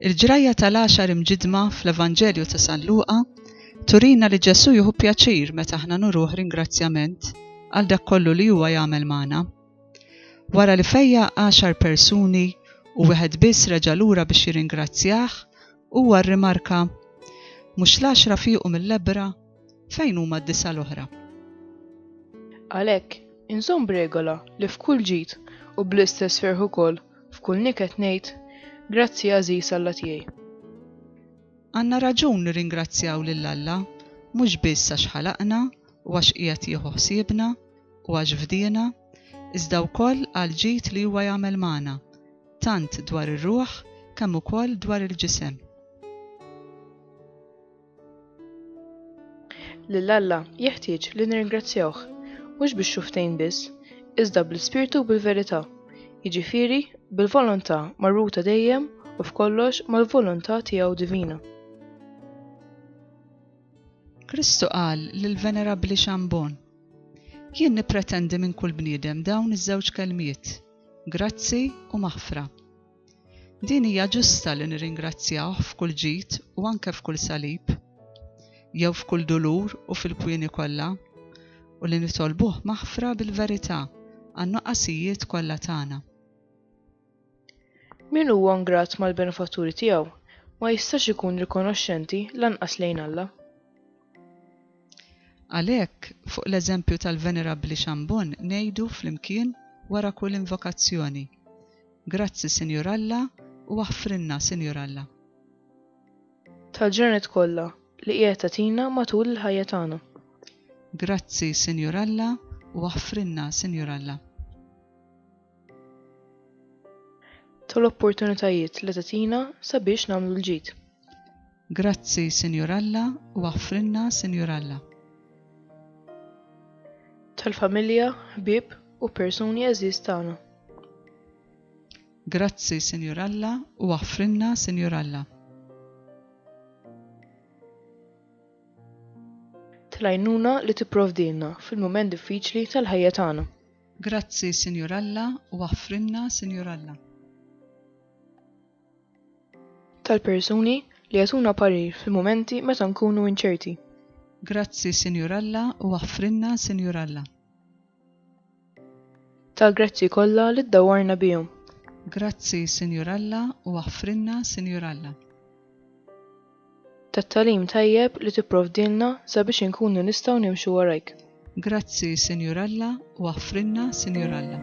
Il-ġrajja tal-għaxar imġidma fl-Evanġelju ta' San Luqa turina li Ġesù jieħu pjaċir meta aħna nuruh ringrazzjament għal dak kollu li huwa jagħmel magħna. Wara li fejja għaxar persuni u wieħed biss reġa' lura biex jirringrazzjah, huwa rrimarka, Mhux l-għaxra fiequ mill-lebbra? Fejn huma d-disa' l-oħra? Għalhekk, inżomm b'regola li f'kull ġid u bl-istess ferħ ukoll f'kull niket ngħid, Grazzi għażiż Alla tiegħi. Għandna raġun nirringrazzjaw lil Alla mhux biss għax ħalaqna u għax qiegħed jieħu ħsiebna u għax fdiena, iżda wkoll għall-ġid li huwa jagħmel magħna, tant dwar ir-ruħ kemm ukoll dwar il-ġisem. Lil Alla jeħtieġ li nirringrazzjawh, mhux bix-xuftejn biss, iżda bl-ispirtu u bil-verità, jiġifieri bil-volontà marbuta dejjem u f'kollox mal-volontà tiegħu divina. Kristu qal lill-Venerabbli Chambon, Jien nippretendi minn kull bniedem dawn iż-żewġ kelmiet, grazzi u maħfra. Din hija ġusta li nirringrazzjawh f'kull ġid u anke f'kull salib, jew f'kull dulur u fil-kwieni kollha, u li nitolbuh maħfra bil-verità għan-nuqqasijiet kollha tagħna. Min huwa ngrat mal-benefatturi tiegħu ma jistax ikun rikonoxxenti lanqas lejn Alla. Għalhekk, fuq l-eżempju tal-Venerabbli Xambun ngħidu flimkien wara kull invokazzjoni, Grazzi, Sinjur Alla, u aħfrilna, Sinjur Alla. Tal-ġranet kollha li qiegħed tagħtina matul il-ħajja tagħna. Grazzi, Sinjur Alla, u aħfrilna, Sinjur Alla. tal-opportunitajiet li tagħtina sabiex nagħmlu l-ġid. Grazzi, Sinjur Alla, u aħfrilna, Sinjur Alla. Tal-familja, ħbieb u persuni għażiż tagħna. Grazzi, Sinjur Alla, u aħfrilna, Sinjur Alla. Tlajnuna li tipprovdilna fil-mument diffiċli tal-ħajja tagħna. Grazzi Sinjur Alla u aħfrilna Sinjur Alla. Tal-persuni li jagħtuna parir fil-mumenti meta nkunu inċerti. Grazzi Sinjur Alla u aħfrilna Sinjur Alla. Tal-grazzi kollha li ddawwarna bihom. Grazzi Sinjur Alla u aħfrilna Sinjur Alla. tat-tagħlim tajjeb li tipprovdilna sabiex inkunu nistgħu nimxu warajk. Grazzi, Sinjur Alla, u aħfrilna, Sinjur Alla.